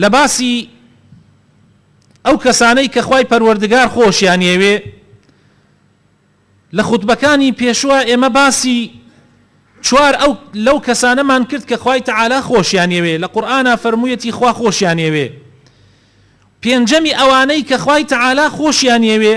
لە باسی ئەو کەسانەی کە خوای پەروەردگار خۆشیان ئەوێ لە خوتبەکانی پێشوە ئێمە باسی چوار ئەو لەو کەسانەمان کرد کە خوای تەعالا خۆشیان ئەوێ لە قورئانا فەرموویەتی خوا خۆشیان ئەوێ پێنجەمی ئەوانەی کە خوای تەعالا خۆشیان ئەوێ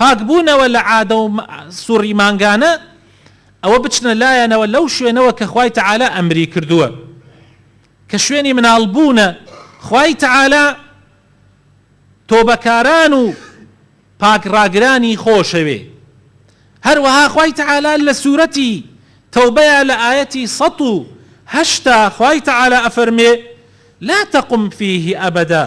پاکبوونەوە لە عادە و سوڕی مانگانە، ئەوە بچنە لایانەوە لەو شوێنەوە کە خوای تەعالا ئەمری کردووە، کە شوێنی مناڵ بوونە، خوای تەعالا تۆبەکاران و پاک ڕاگرانی خۆشەوێ، هەروەها خوای تەعالا لە سورەتی تەوبەیا لە ئایەتی سەد و هەشتا خوای تەعالا ئەفەرمێ، لا تقم فیه ابدا.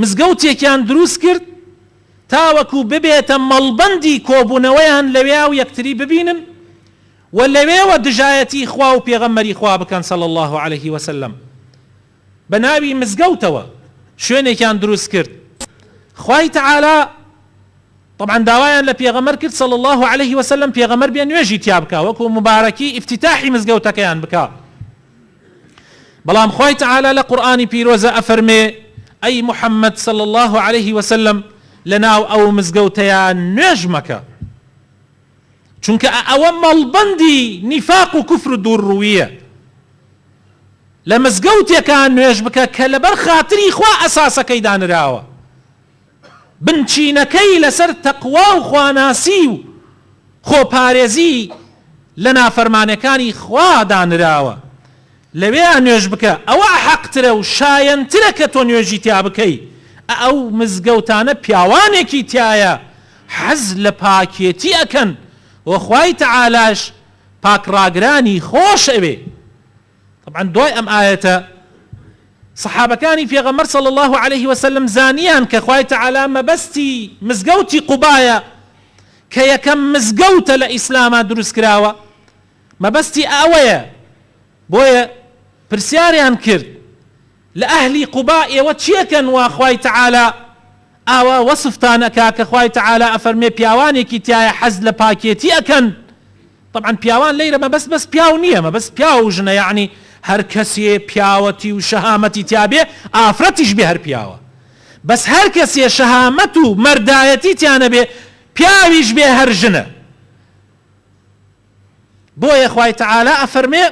مزگەوتێکیان دروست کرد تاوەکو ببێتە مەڵبەندی کۆبوونەوەیان لەوێا و یەکتری ببینن و لەوێوە دژایەتی خوا و پێغەمبەری خوا بکەن صلی اللە علیە وسلم بەناوی مزگەوتەوە شوێنێکیان دروست کرد خوای تعالی طبعا داوایان لە پێغەمبەر کرد صلی اللە علیە وسلم پێغەمبەر بێ نوێژی تیا بکا وەکو مبارەکی افتتاحی مزگەوتەکەیان بکا بەڵام خوای تەعالا لە قورئانی پیرۆزە ئەفەرمێ، ئەی محمد صلی اللە علیە وسلم لەناو ئەو مزگەوتەیا نوێژ مەکە چونکە ئە ئەوە مەڵبەندی نیفاق و کوفر و دوور ڕوویە لە مزگەوتێکا نوێژ بکە کە لەبەر خاتری خوا ئەساسەکەی دانراوە. بنچینەکەی لەسەر تەقوا و خواناسی و خۆپارێزی لە نافەرمانەکانی خوا دانراوە، لەوێیا نوێژ بکە، ئەوە حەقترە و شایەنترە کە تۆ نوێژی تیا بکەی، ئەو مزگەوتانە پیاوانێکی تیایە حەز لە پاکێتی ئەکەن و خوای تەعالاش پاکڕاگرانی خۆش ئەوێ. تەبعەن دوای ئەم ئایەتە سەحابەکانی پێغەمبەر صلی اللە علیه وسلم زانیان کە خوای تەعالا مەبەستی مزگەوتی قوبایە کە یەکەم مزگەوتە لە ئیسلاما دروست کراوە مەبەستی ئەوەیە بۆیە پرسیاریان کرد لە ئەهلی قوبا ئێوە چێکەن وا خوای تعالی ئاوا وەسفتان ئەکا کە خوای تعالی ئەفەرمێ پیاوانێکی تیایە حەز لە پاکێتی ئەکەن طبعا پیاوان لەیرە مەبەست بەس پیاو نیە مەبەست پیاو و ژنە یەعنی هەر کەسێ پیاوەتی و شەهامەتی تیابێ ئافرەتیش بێ هەر پیاوە بەس هەر کەسێ شەهامەت و مەردایەتی تیانەبێ پیاویش بێ هەر ژنە بۆیە خوای تعالی ئەفەرمێ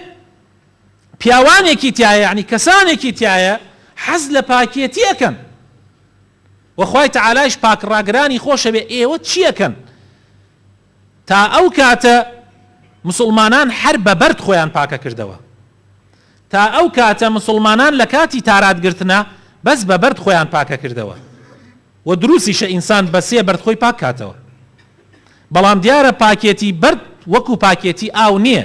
پیاوانێکی تیایە یەعنی کەسانێکی تیایە حەز لە پاکێتی ئەکەن وە خوای تەعالایش پاک ڕاگرانی خۆشەوێ ئێوە چی ئەکەن تا ئەو کاتە مسوڵمانان هەر بە بەرد خۆیان پاکە کردەوە تا ئەو کاتە مسوڵمانان لە کاتی تارات گرتنە بەس بە بەرد خۆیان پاکە کردەوە و دروسیشە ئینسان بە سێ بەرد خۆی پاک کاتەوە بەڵام دیارە پاکێتی بەرد وەکو پاکێتی ئاو نییە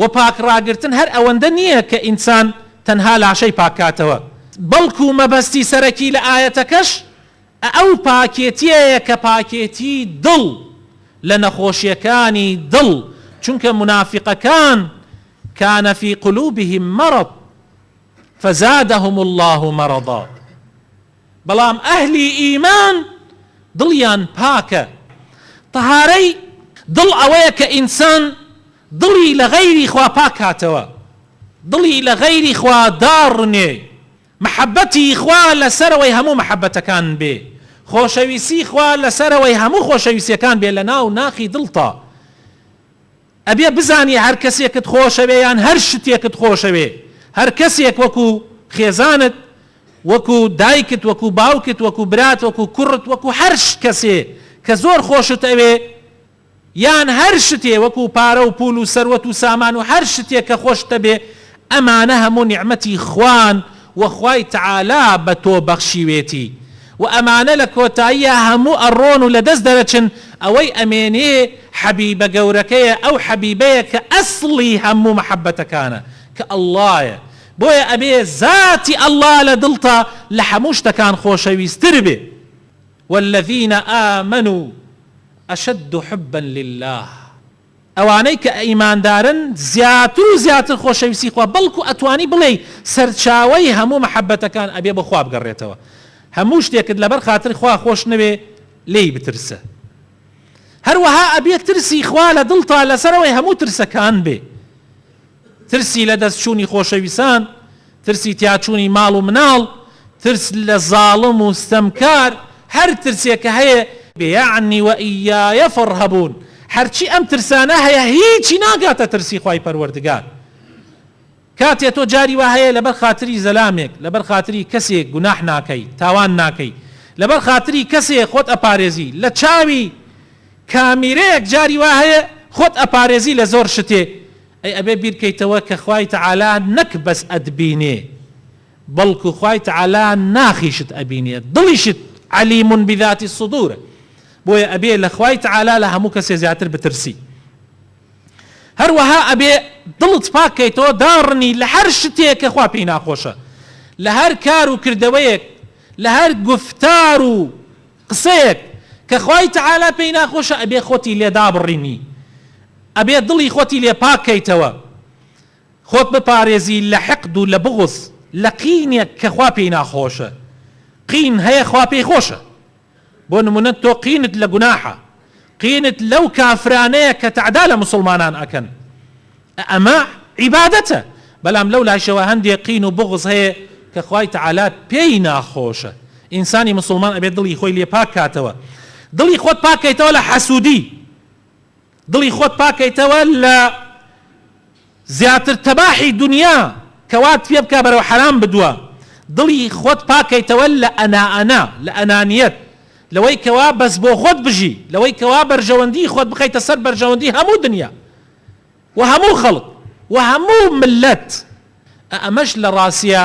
وە پاک ڕاگرتن هەر ئەوەندە نییە کە ئینسان تەنها لاشەی پاک کاتەوە بەڵکو مەبەستی سەرەکی لە ئایەتەکەش ئەو پاکێتیەیە کە پاکێتی دڵ لە نەخۆشیەکانی دڵ چونکە مونافیقەکان کان فی قلوبهم مرض فزادهم اللە مرضا. بەڵام ئەهلی ئیمان دڵیان پاکە، تەهارەی دڵ ئەوەیە کە ئینسان دڵی لە غەیری خوا پاککاتەوە، دڵی لە غەیری خوا داڕنێ، مەحەبەتی خوا لە سەرەوەی هەموو مەحەبەتەکان بێ، خۆشەویستی خوا لە سەرەوەی هەموو خۆشەویستیەکان بێ لە ناو ناخی دڵتا. ئەبێ بزانی هەر کەسێکت خۆشەوێ یان هەر شتێکت خۆشەوێ هەر کەسێک وەکو خێزانت وەکو دایکت وەکو باوکت وەکو برات وەکو کوڕت وەکو هەر کەسێ کە زۆر خۆشت ئەوێ یان هەر شتێ وەکو پارە و پول و سەروەت و سامان و هەر شتێک کە خۆشتەبێ ئەمانە هەموو نیعمەتی خوان و خوای تەعالا بە تۆ بەخشیوێتی و ئەمانە لە کۆتاییا هەموو ئەڕۆن و لە دەست دەرەچن، ئەوەی ئەمێنێ حەبیبە گەورەکەیە، ئەو حەبیبەیە کە ئەسڵی هەموو مەحەبەتەکانە کە اللەیە، بۆیە ئەبێ زاتی اللە لە دڵتا لە هەموو شتەکان خۆشەویستر بێ، والذین آمنوا اشد حبا للە. ئەوانەی کە ئیماندارن زیاتر و زیاتر خۆشەویستی خوا بەڵکو ئەتوانی بڵێی سەرچاوەی هەموو مەحەبەتەکان ئەبێ بۆ خوا بگەڕێتەوە هەموو شتێکت لەبەر خاتری خوا خۆش نەوێ لێی بترسە هەروەها ئەبێ ترسی خوا لە دڵتا لەسەرەوەی هەموو ترسەکان بێ. ترسی لە دەست چوونی خۆشەویسان، ترسی تیاچوونی ماڵ و مناڵ، ترس لە زاڵم و ستەمکار، هەر ترسێک کە هەیە، بێیەعنی وەئییایە فەڕهەبوون، هەرچی ئەم ترسانە هەیە هیچی ناگاتە ترسی خوای پەروەردگار. کاتێ تۆ جاری وا هەیە لەبەر خاتری زەلامێک، لەبەر خاتری کەسێک گوناح ناکەی، تاوان ناکەی، لەبەر خاتری کەسێ خۆت ئەپارێزی، لە چاوی کامیرەیەک جاری وا هەیە خۆت ئەپارێزی لە زۆر شتێ ئەی ئەبێ بیر کەیتەوە کە خوای تەعالا نەک بەس ئەتبینێ بەڵکو خوای تەعالا ناخیشت ئەبینێ دڵیشت علیم بذات الصدورە بۆیە ئەبێ لە خوای تەعالا لە هەموو کەسێ زیاتر بترسی هەروەها ئەبێ دڵت پاک کەیتەوە داڕنی لە هەر شتێ کە خوا پێی ناخۆشە لە هەر کار و کردەوەیەک لە هەر گوفتار و قسەیەک کە خوای تەعالا پێی ناخۆشە ئەبێ خۆتی لێ دابڕینی ئەبێ دڵی خۆتی لێ پاک کەیتەوە خۆت بپارێزی لە حقد و لە بغض لە قینێک کە خوا پێی ناخۆشە قین هەیە خوا پێی خۆشە بۆ نمونە تۆ قینت لە گوناحە قینت لەو کافرانەیە کە تەعدا لە موسڵمانان ئەکەن ئەمە عیبادەتە بەلام لەو لاشەوە هەندێ قین و بوغز هەیە کە خوای تەعالا پێی ناخۆشە ئینسانی موسڵمان ئەبێ دڵی خۆی لێ پاک کاتەوە دڵی خۆت پاک کەیتەوە لە حەسودی دڵی خۆت پاک کەیتەوە لە زیاتر تەباحی دونیا کەوات پێ بکا بەرەو حەرام بدوە دڵی خۆت پاک کەیتەوە لە ئەنا ئەنا لە ئەنانیەت لەوەی کەوا بەس بۆ خۆت بژی لەوەی کەوا بەرژەوەندی خۆت بخەیتە سەر بەرژەوەندی هەموو دونیا وە هەموو خەڵک وە هەموو مللەت ئەئەمەش لە ڕاسیە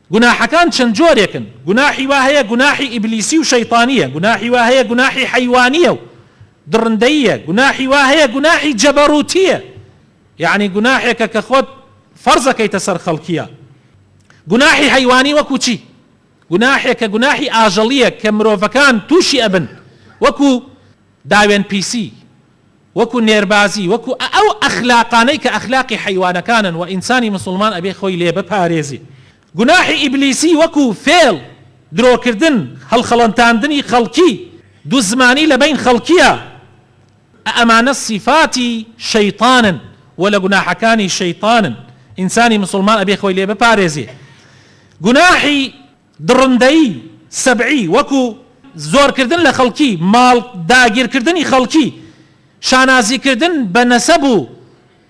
گوناحەکان چەند جۆرێکن، گوناحی وا هەیە گوناحی ئیبلیسی و شەیتانییە، گوناحی وا هەیە گوناحی حەیوانییە و دڕندەییە، گوناحی وا هەیە گوناحی جەبەروتییە، یەعنی گوناحێکە کە خۆت فەرزەکەیتە سەر خەڵکیا. گوناحی حەیوانی وەکو چی؟ گوناحێکە گوناحی ئاژەڵییە کە مرۆڤەکان تووشی ئەبن وەکو، داوێن پیسی وەکو نێربازی وەکو ئە ئەو ئەخلاقانەی کە ئەخلاقی حەیوانەکانن وە ئینسانی مسوڵمان ئەبێ خۆی لێ بپارێزێ گوناحی ئیبلیسی وەکو فێڵ درۆکردن هەڵخەڵەتاندنی خەڵکی دوزمانی لە بەین خەڵکیا ئە ئەمانە سیفاتی شەیتانن وە لە گوناحەکانی شەیتانن ئینسانی مسوڵمان ئەبێ خۆی لێ بپارێزێ گوناحی دڕندەیی سەبعی وەکو زۆرکردن لە خەڵکی ماڵ، داگیرکردنی خەڵکی، شانازیکردن بە نەسەب و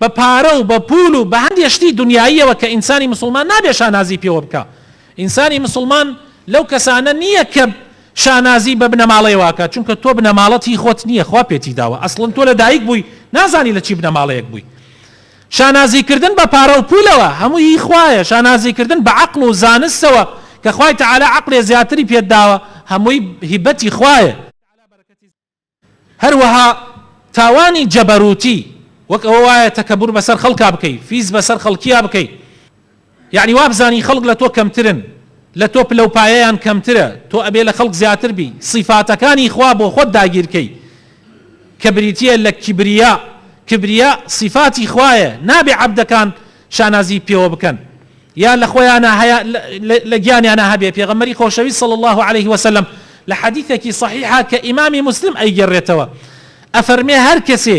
بە پارە و بە پول و بە هەندێ شتی دونیاییەوە کە ئینسانی مسوڵمان نابێ شانازی پێوە بکا. ئینسانی مسوڵمان لەو کەسانە نییە کە شانازی بە بنەماڵەیەوە ئەکا، چونکە تۆ بنەماڵەت هی خۆت نییە خوا پێتی داوە، ئەسڵەن تۆ لە دایک بووی نازانی لە چی بنەماڵەیەک بووی. شانازی کردن بە پارە و پولەوە هەمووی هی خوایە، شانازی کردن بە عەقڵ و زانستەوە کە خوای تەعالا عەقلێ زیاتری پێت داوە هەمووی هیبەتی خوایە، هەروەها تاوانی جەبەروتی وەک ئەوە وایە تەکەبور بەسەر خەڵکا بکەی، فیز بەسەر خەڵکیا بکەی، یەعنی وابزانی خەڵک لە تۆ کەمترن لە تۆ پلە و پایەیان کەمترە تۆ ئەبێ لە خەڵک زیاتر بی سیفاتەکانی خوا بۆ خۆت داگیر کەی کە بریتیە لە کیبریا کبریا سیفاتی خوایە نابێ عەبدەکان شانازی پێوە بکەن یا لە خۆیانا هەیە لە گیانیانا هەبێ پێغەمبەری خۆشەوی صلی الله علیه وسلم لە حەدیثەکی صحیحە کە ئیمامی مسلم ئەیگێڕێتەوە ئەفەرمێ هەر کەسێ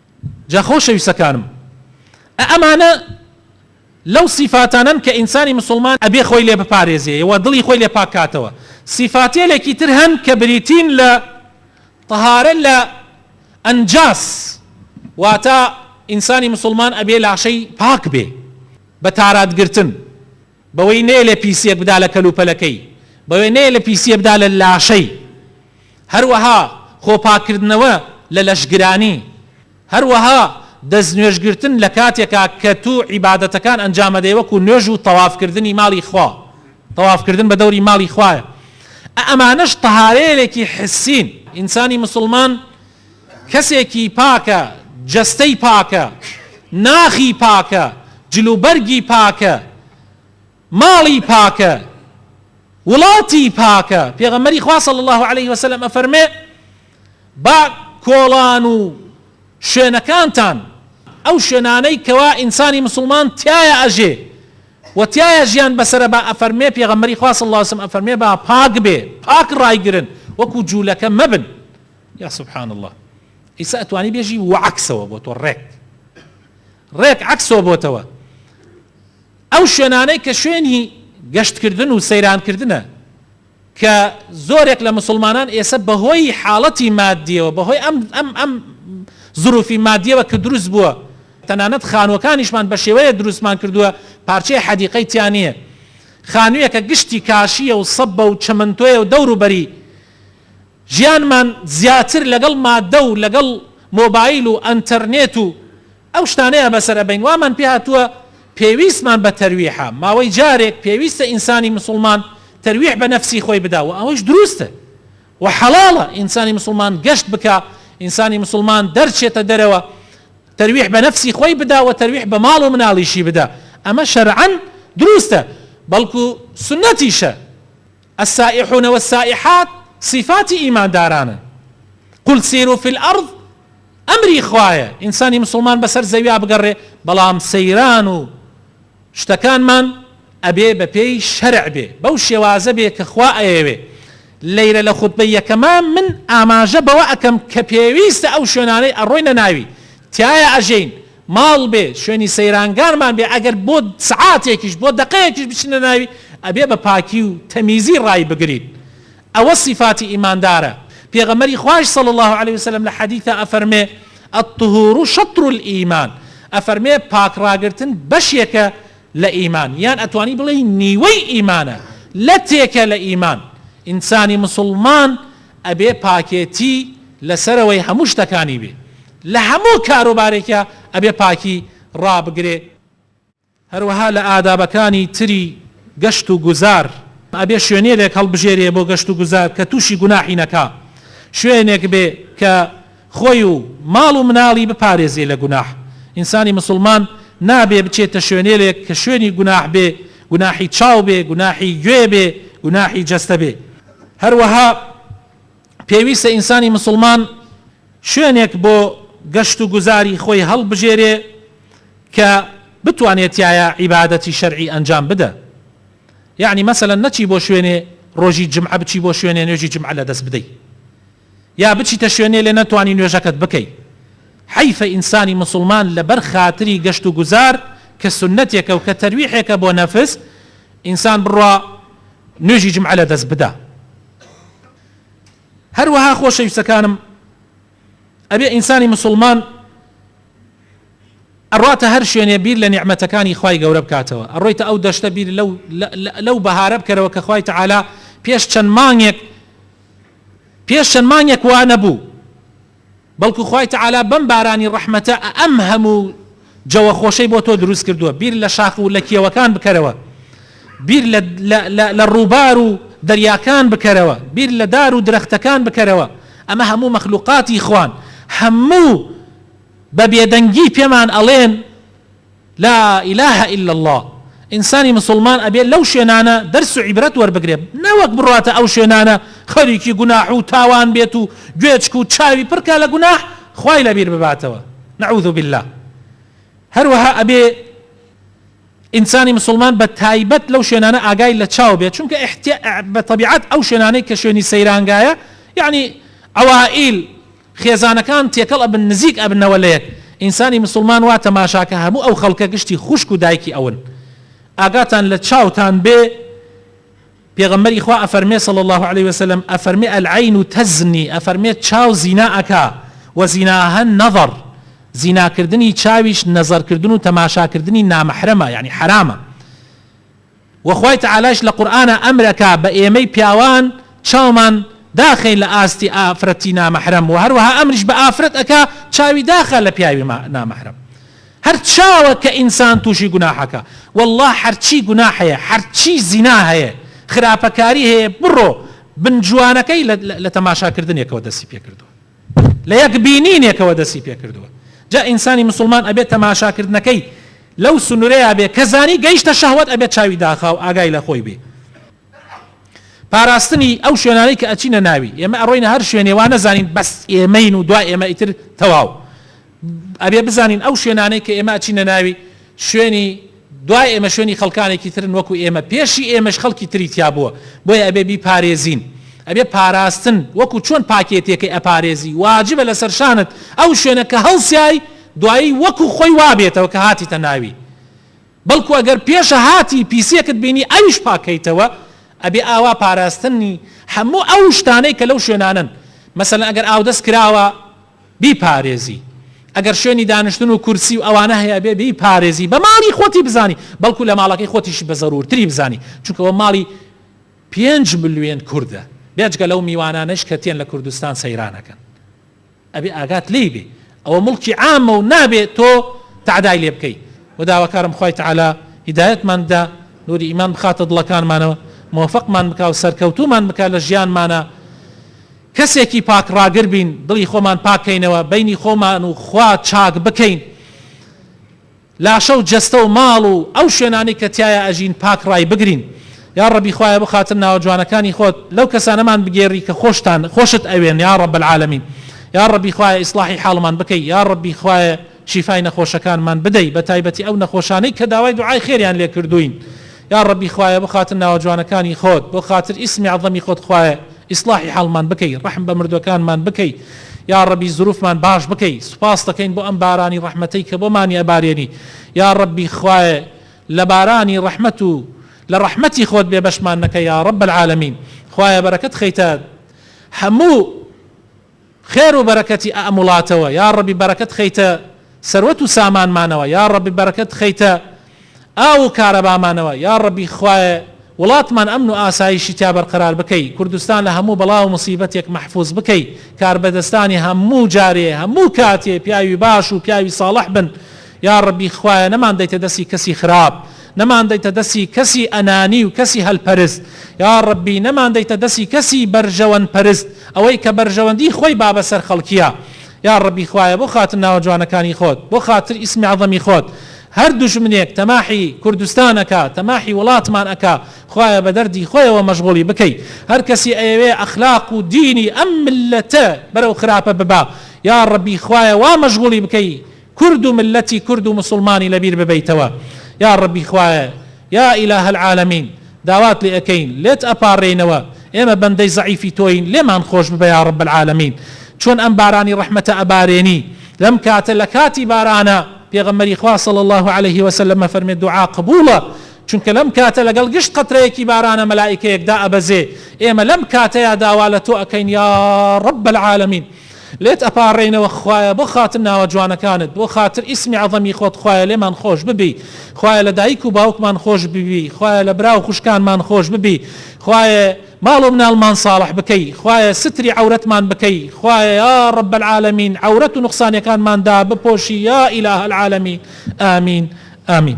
جا خۆشەویستەکانم ئە ئەمانە لەو سیفاتانەن کە ئینسانی مسوڵمان ئەبێ خۆی لێ بپارێزێ و دڵی خۆی لێ پاک کاتەوە سیفاتێلێکی تر هەن کە بریتین لە طهارە لە ئەنجاس واتا ئینسانی مسوڵمان ئەبێ لاشەی پاک بێ بە تارادگرتن بەوەی نەیەلێ پیسییەک بدا لە کەلوپەلەکەی، بەوەی نەیەلێ پیسییە بدا لە لاشەی، هەروەها خۆپاککردنەوە لە لەشگرانی، هەروەها دەستنوێژگرتن لە کاتێکا کە تو عیبادەتەکان ئەنجامەدەی وەکو نوێژ و تەوافکردنی ماڵی خوا، تەوافکردن بە دەوری ماڵی خوایە، ئەئەمانەش تەهارەیەلێکی حسین، ئینسانی مسوڵمان، کەسێکی پاکە، جەستەی پاکە، ناخی پاکە، جلوبەرگی پاکە، ماڵی پاکە، وڵاتی پاکە، پێغەمبەری خوا صلی اللە علیه وسلم ئەفەرمێ، با کۆڵان و شوێنەکانتان، ئەو شوێنانەی کەوا ئینسانی مسوڵمان تیایا ئەژێ و تیایا ژیان بەسەرە با ئەفەرمێ، پێغەمبەری خوا صلی اللە علیه وسلم ئەفەرمێ، با پاک بێ، پاک ڕایگرن، وەکو جولەکە مەبن. یا سبحان اللە ئیسە ئەتوانی بێژی وە عەکسەوە بۆ تۆ ڕێک ڕێک عەکسەوە بۆتەوە ئەو شوێنانەی کە شوێنی گەشتکردن و سەیرانکردنە کە زۆرێک لە مسلمانان ئێسە بەهۆی حاڵەتی مادیەوە بەهۆی ئەم ئەم ئەم زروفی مادیەوە کە دروست بووە تەنانەت خانوەکانیشمان بە شێوەیە دروستمان کردووە پارچەی حەدیقەی تیانە خانوویەکە گشتی کاشیە و سەبە و چەمنتۆیە و دەوروبەری ژیانمان زیاتر لەگەڵ ماددە و لەگەڵ مۆبایل و ئەنتەرنێت و ئەو شتانەیا بەسەر ئەبەین وامان پێ هاتووە پێویستمان بە تەرویحە ماوەی جارێک پێویستە ئینسانی مسوڵمان تەرویح بە نەفسی خۆی بدا وە ئەوەش دروستە وە حەڵاڵە ئینسانی مسوڵمان گەشت بکا ئینسانی مسوڵمان دەرچێتە دەرەوە تەرویح بە نەفسی خۆی بدا وە تەرویح بە ماڵ و مناڵیشی بدا ئەمە شەرعەن دروستە بەڵکو سوننەتیشە السائحون والسائحات سیفاتی ئیماندارانن، قل سیرو فی الارض ئەمری خوایە ئینسانی موسڵمان بەسەر زەویا بگەڕێ بەڵام سەیران و شتەکانمان ئەبێ بەپێی شەرع بێ بەو شێوازە بێ کە خوا ئەیەوێ لەیرە لە خوتبەی یەکەما من ئاماژە بەوە ئەکەم کە پێویستە ئەو شوێنانەی ئەڕۆینە ناوی تیایا ئەژین ماڵ بێ شوێنی سەیرانگانمان بێ ئەگەر بۆ سەعاتێکیش بۆ دەقەیەکیش بچینە ناوی ئەبێ بە پاکی و تەمیزی ڕای بگرین ئەوە سیفاتی ئیماندارە پێغەمبەری خوایش صلی اللە علیە وسلم لە حەدیثا ئەفەرمێ الطهور شطر الایمان ئەفەرمێ پاک ڕاگرتن بەشێکە لە ئیمان یان ئەتوانی بڵێی نیوەی ئیمانە لەتێکە لە ئیمان ئینسانی مسوڵمان ئەبێ پاکێتی لەسەرەوەی هەموو شتەکانی بێ لە هەموو کاروبارێکا ئەبێ پاکی ڕابگرێ هەروەها لە ئادابەکانی تری گەشت و گوزار ئەبێ شوێنێێک هەڵبژێرێ بۆ گەشت و گوزار کە تووشی گوناحی نەکا شوێنێک بێ کە خۆی و ماڵ و مناڵی بپارێزێ لە گوناح ئینسانی مسوڵمان نابێ بچێتە شوێنێێک کە شوێنی گوناح بێ گوناحی چاو بێ گوناحی گوێ بێ گوناحی جەستە بێ هەروەها پێویستە ئینسانی مسوڵمان شوێنێک بۆ گەشت و گوزاری خۆی هەڵبژێرێ کە بتوانێ تیایا عیبادەتی شەرعی ئەنجام بدە یەعنی مەسەلەن نەچی بۆ شوێنێ ڕۆژی جمعە بچی بۆ شوێنێ نوێژی جمعە لە دەست بدەی یا بچیتە شوێنێ لێ نەتوانی نوێژەکەت بکەی حەیفە ئینسانی مسوڵمان لەبەر خاتری گەشت و گوزار کە سونەتێکە و کە تەرویحێکە بۆ نەفس ئینسان بڕوا نوێژی جمعە لە دەست بدا هەروەها خۆشەویستەکانم ئەبێ ئینسانی مسوڵمان ئەڕواتە هەر شوێنێ بیر لە نیعمەتەکانی خوای گەورە بکاتەوە ئەڕۆیتە ئەو دەشتە بیر لەو لەو بەهارە بکەرەوە کە خوای تەعالا پێش چەند مانگێک پێش چەند مانگێک وا نەبوو بەڵکو خوای تەعالا بەم بارانی ڕەحمەتە ئە ئەم هەموو جەوە خۆشەی بۆ تۆ دروست کردووە بیر لە شاخ و لە کێوەکان بکەرەوە بیر لە لە لە لە ڕووبار و دەریاکان بکەرەوە بیر لە دار و درەختەکان بکەرەوە ئەمە هەموو مەخلوقاتی خوان هەموو بە بێدەنگی پێمان ئەڵێن لا الە الا اللە ئینسانی مسوڵمان ئەبێ لەو شوێنانە دەرس و عیبرەت وەربگرێ نەوەک بڕواتە ئەو شوێنانە خەریکی گوناح و تاوان بێت و گوێچک و چاوی پڕکا لە گوناح خوای لەبیر بباتەوە نعوذ باللە هەروەها ئەبێ ئینسانی مسوڵمان بە تایبەت لەو شوێنانە ئاگای لە چاو بێت چونکە ئحتیا بە تەبیعەت ئەو شوێنانەی کە شوێنی سەیرانگایە یعنی عوائیل خێزانەکان تێکەڵ ئەبن نزیک ئەبنەوە لە یەک ئینسانی مسوڵمان وا تەماشا کە هەموو ئەو خەڵکە گشتی خوشک و دایکی ئەون ئاگاتان لە چاوتان بێ پێغەمبەری خوا ئەفەرمێ صلی الله علیه وسلم ئەفەرمێ العین تزنی ئەفەرمێ چاو زینا ئەکا و زیناها نظر زیناکردنی چاویش نەزەرکردن و تەماشاکردنی نامەحرەمە یعنی حەرامە وە خوای تەعالایش لە قورئانا ئەمر ئەکا بە ئێمەی پیاوان چاومان داخەین لە ئاستی ئافرەتی نامەحرەم وە هەروەها ئەمریش بە ئافرەت ئەکا چاوی داخا لە پیاوی نامەحرەم هەر چاوە کە ئینسان توشی گوناح ئەکا واللە حەرچی گوناح هەیە حەرچی زینا هەیە خراپەکاری هەیە بڕۆ بن جوانەکەی لە تەماشا کردنێکەوە دەستی پێ کردوە. لە یەک بینینێکەوە دەستی پێ کردووە جا ئینسانی مسوڵمان ئەبێ تەماشا کردنەکەی لەو سنورەیا بێ کە زانی گەیشتە شەهوەت ئەبێ چاوی داخاو ئاگای لە خۆی بێ پاراستنی ئەو شوێنانەی کە ئەچینە ناوی ئێمە ئەڕۆینە هەر شوێنێ وا نەزانین بەس ئێمەین و دوا ئێمە ئیتر تەواو ئەبێ بزانین ئەو شوێنانەی کە ئێمە ئەچینە ناوی شوێنی دوای ئێمە شوێنی خەڵکانێکی ترن وەکو ئێمە پێشی ئێمەش خەڵکی تری تیا بووە بۆیە ئەبێ بیپارێزین ئەبێ پاراستن وەکو چۆن پاکێتێکەی ئەپارێزی واجبە لەسەر شانت ئەو شوێنە کە هەڵسیای دوایی وەکو خۆی وابێتەوە کە هاتیتە ناوی بەڵکو ئەگەر پێشە هاتی پیسێکت بینی ئەویش پاکەیتەوە ئەبێ ئاوا پاراستنی هەموو ئەو شتانەی کە لەو شوێنانن مەسەلەن ئەگەر ئاودەست کراوە بیپارێزی ئەگەر شوێنی دانیشتن و کورسی و ئەوانە هەیەبێ بیپارێزی بە ماڵی خۆتی بزانی بەڵکو لە ماڵەکەی خۆتیشی بە زەرورتری بزانی چونکە ئەوە ماڵی پێنج ملوێن کوردە بێجگە لەو میوانانەش کە تێن لە کوردستان سەیرانەکەن ئەبێ ئاگات لێی بێ ئەوە مڵکی عامە و نابێ تۆ تەعدای لێ بکەی و داواکارم خوای تەعالا هیدایەتمان بدا نوری ئیمان بخاتە دڵەکانمانەوە موفقمان بکا و سەرکەوتوومان بکا لە ژیانمانا کەسێکی پاک ڕاگر بین، دڵی خۆمان پاک کەینەوە، بەینی خۆمان و خوا چاک بکەین، لاشە و جەستە و ماڵ و ئەو شوێنانەی کە تیایا ئەژین پاک ڕای بگرین، یا ڕەبی خوایە بۆ خاتر ناوە جوانەکانی خۆت لەو کەسانەمان بگێڕی کە خۆشتان خۆشت ئەوێن یا ڕەب العالمین، یا ڕەبی خوایە ئیسڵاحی حاڵمان بکەی، یا ڕەبی خوایە شیفای نەخۆشەکانمان بدەی بەتایبەتی ئەو نەخۆشانەی کە داوای دوعای خێریان لێ کردووین یاڕەبی خوایە بۆ خاتر ناوە جوانەکانی خۆت بۆ خاتر ئیسمی عەزەمی خۆت خوایە ئیسڵاحی حاڵمان بکەی ڕەحم بە مردوەکانمان بکەی یاڕەبی زروفمان باش بکەی سوپاست دەکەین بۆ ئەم بارانی ڕەحمەتەی کە بۆمانی ئەبارێنی یاڕەبی خوایە لە بارانی ڕەحمەت و لە ڕەحمەتی خۆت بێ بەشمان نەکە یاڕەب العالمین خوایە بەرەکەت خەیتە هەموو خێر و بەرەکەتی ئەم وڵاتەوە یاڕەبی بەرەکەت خەیتە سەروەت و سامانمانەوە یاڕەبی بەرەکەت خەیتە ئاو و کارەبامانەوە یاڕەبی خوایە وڵاتمان ئەمن و ئاسایشی تیا بەرقەرار بکەی کوردستان لە هەموو بەڵا و موسیبەتێک مەحفوز بکەی کاربەدەستانی هەموو جارێ هەموو کاتێ پیاوی باش و پیاوی ساڵح بن یاڕەبی خوایە نەمان دەیتە دەسی کەسی خراپ نەمان دەیتە دەسی کەسی ئەنانی و کەسی هەل پەرست یاڕەبی نەمان دەیتە دەسی کەسی بەرژەوەند پەرست ئەوەی کە بەرژەوەندی خۆی بابە سەر خەڵکیا یاڕەبی خوایە بۆ خاتر ناوە جوانەکانی خۆت بۆ خاتر ئیسمی عەزەمی خۆت هەر دوژمنێک تەماحی کوردستان ئەکا تەماحی وڵاتمان ئەکا خوایە بە دەردی خۆیەوە مەشغوڵی بکەی هەر کەسی ئەیەوێ ئەخلاق و دینی ئەم میللەتە بەرەو خراپە ببا یاڕەبی خوایە وا مەشغوڵی بکەی کورد و مللەتی کورد و موسوڵمانی لەبیر ببەیتەوە یاڕەبی خوایە یا ئیلاهە العالمین داوات لێ ئەکەین لێت ئەپاڕێینەوە ئێمە بەندەی زەعیفی تۆین لێمان خۆش ببە یاڕەب العالمین چۆن ئەم بارانی ڕەحمەتە ئەبارێنی لەم کاتە لەکاتی بارانە پێغەمبەری خوا صلی اللە علیه وسلم ئەفەرمێ دوعا قبوڵە چونکە لەم کاتە لەگەڵ گشت قەترەیەکی بارانە مەلائیکەیەک دائەبەزێ ئێمە لەم کاتەیا داوا لەتۆ ئەکەین یاڕەب العالمین لێت ئەپاڕێینەوە خوایە بۆ خاتر ناوە جوانەکانت بۆ خاتر ئیسمی عەزەمی خۆت خوایە لێمان خۆش ببی خوایە لە دایک و باوکمان خۆش ببی خوایە لە برا و خوشکانمان خۆش ببی خوایە ماڵ و مناڵمان ساڵح بکەی خوایە ستری عەورەتمان بکەی خوایە یا رب العالمین عەورەت و نوقسانیەکانمان دابپۆشی یا الە العالمین ئامین ئامین.